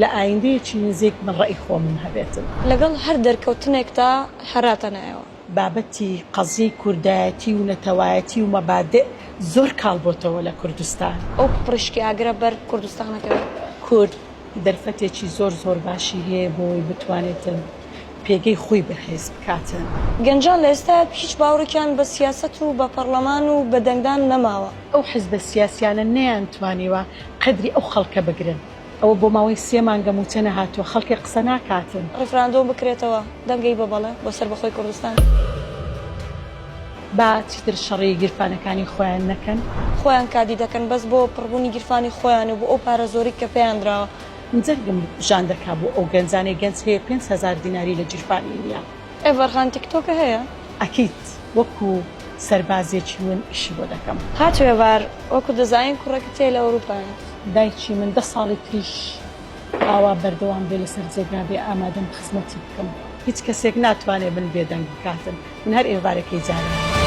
لە ئایندەیەکی نزیک من ڕەئی خۆمم هەبێت. لەگەڵ هەر دەرکەوتنێکدا هەراتەنایەوە. بابەتی قەزیەی کوردایەتی و نەتەوایەتی و مەبادئ زۆر کاڵ بۆتەوە لە کوردستان. ئەو پڕیشکی ئاگرە بەر کوردستانەکەوێت. کورد دەرفەتێکی زۆر زۆر باشی هەیە بۆوەی بتوانێتن پێگەی خۆی بەهێز بکاتن. گەنجان لە ئێستایا هیچ باوڕێکیان بە سیاسەت و بە پەڕڵەمان و بە دەنگدان نەماوە. ئەو حزبە سیاسیانە نەیانتوانیوە قەدری ئەو خەڵکە بگرن. ئەوە بۆ ماوەی سێ مانگە مووچە نەهاتووە خەڵکێ قسە ناکاتن. ڕیفراندۆم بکرێتەوە دەنگی بە بەڵێ بۆ سەربەخۆی کوردستان. با چیتر شەڕی گیرفانەکانی خۆیان نەکەن. خۆیان کادی دەکەن بەس بۆ پڕبونی گیرفانی خۆیان و بۆ ئەو پارە زۆرەی کە پێیان دراوە. جەرگم ژان دەکا بۆ ئەو گەنجانەی گەنج هەیە پێنج هەزار دیناری لە جیرفانی نیە. ئێڤەرغان تیکتۆکە هەیە؟ ئەکید وەکو سەربازێکی ون ئیشی بۆ دەکەم. ها توێڤار وەکو دەزاین کوڕەکە تێ لە ئەوروپایە. دایکی من دە ساڵی تریش ئاوا بەردەوام بێ لەسەر جێگا بێ ئامادەم خزمەتی بکەم. هیچ کەسێک ناتوانێ من بێدەنگ بکاتن من هەر ئێڤارەکەی جارانم.